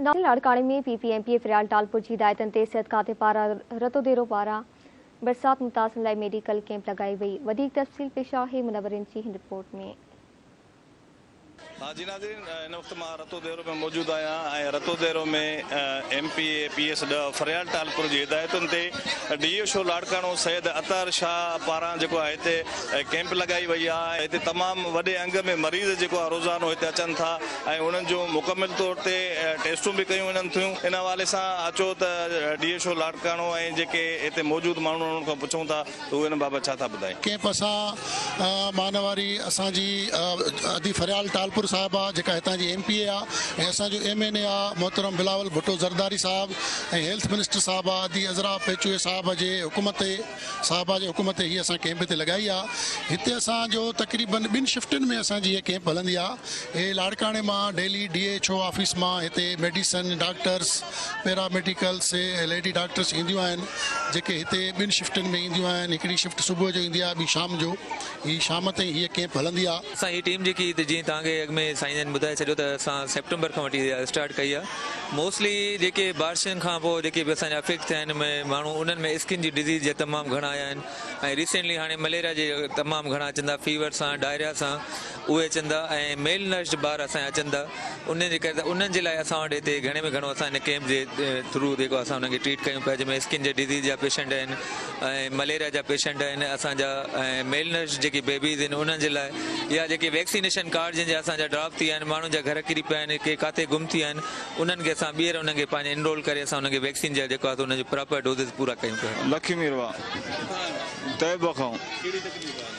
Novel لاڙڪاڻي ۾ P P M P A Faryal Talpur جي هدايتن تي صحت کاتي پاران رتوديرو پاران برسات متاثرن لاء ميڊيڪل ڪيمپ لڳائي وئي وڌيڪ تفصيل پيش آهي منورين جي هن رپورٽ ۾. ها جي ناظرين هن وقت مان رتو ديرو ۾ موجود آهيان ۽ Ratodero ۾ M P A P S ڏهه فريال ٽالپر جي هدايتن تي ڊي اي شو لاڙڪاڻو سيد عطار شاهه پاران جيڪو آهي هتي ۽ ڪيمپ لڳائي وئي آهي ۽ هتي تمام وڏي انگ ۾ مريض جيڪو آهي روزانو هتي اچن ٿا ۽ انهن جون مڪمل طور تي ٽيسٽون به ڪيون وڃن ٿيون ان حوالي سان اچو ته ڊي ايڇ او لاڙڪاڻو ۽ جيڪي هتي موجود ماڻهون انهن کان پڇون ٿا ته هو ان بابت ڇا ٿا ٻڌائين. ڪيمپ سان مان واري اسان جي ادي فريال ٽالپر صاحبه جيڪا هتان جي ايم پي اي آهي ۽ اسان جو ايم اين اي آهي محترم بلاول ڀٽو زرداري صاحب ۽ هيلٿ منسٽر صاحبه ادي عذرا پيچوي صاحبه جي حڪم تي صاحبه جي حڪم تي هي اسان ڪيمپ هتي لڳائي آ. هتي اسان جو تقريبن ٻن شفٽن ۾ اسان جي هي ڪيمپ هلندي آ. هي لاڙڪاڻي مان daily D H O office مان هتي medicine, doctors, paramedics, lady doctors اينديون آهن جيڪي هتي ٻن شفٽن ۾ اينديون آهن. هڪڙي شفٽ صبح جو ايندي آ ٻي شام جو. هي شام تائين هي ڪيمپ هلندي آ. اسان هي ٽيم جيڪي ته جيئن توهان کي اڳ ۾ سائين جن ٻڌائي ڇڏيو ته اسان سيپٽمبر کان وٺي اسٽارٽ ڪئي آهي موسٽلي جيڪي بارشن کان پوء جيڪي به اسان جا افيڪٽ ٿيا آهن ماڻهو انهن ۾ اسڪن جي ڊزيز جا تمام گهڻا آيا آهن ۽ ريسينٽلي هاڻي مليريا جي تمام گهڻا اچن ٿا فيور سان ڊائريا سان اهي اچن ٿا ۽ ميل نرسڊ ٻار اسان جا اچن ٿا انهن جي ڪري انهن جي لاء اسان وٽ هتي گهڻي ۾ گهڻو اسان هن ڪيمپ جي ٿرو جيڪو اسان انهن کي ٽريٽ ڪيون پيا جنهن ۾ اسڪن جي ڊزيز جا پيشنٽ آهن ۽ مليريا جا پيشنٽ آهن اسان جا ۽ ميل نرش جيڪي بيبيز آهن انهن جي لاء يا جيڪي ويڪسينيشن ڪارڊ جن جا اسان جا ڊراپ ٿي ويا آهن ماڻهن جا گهر ڪري پيا آهن ڪي ڪاٿي گم ٿي ويا آهن انهن کي اسان ٻيهر انهن کي پنهنجي انرول ڪري اسان انهن کي ويڪسين جا جيڪو آهي سو انهن جا پراپر ڊوزز پورا ڪيون پيا. لکيميروا طيبه کان.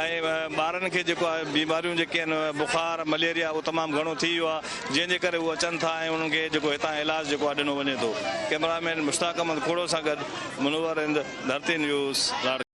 ۽ ٻارن کي جيڪو آهي بيماريون جيڪي آهن بخار مليريا اهو تمام گهڻو ٿي ويو آهي جنهن جي ڪري هو اچن ٿا ۽ انهن کي جيڪو هتان علاج جيڪو آهي ڏنو وڃي ٿو ڪئميرا مين مشتاق احمد کوڙو سان گڏ منور هند ڌرتي نيوز لاڙڪاڻي.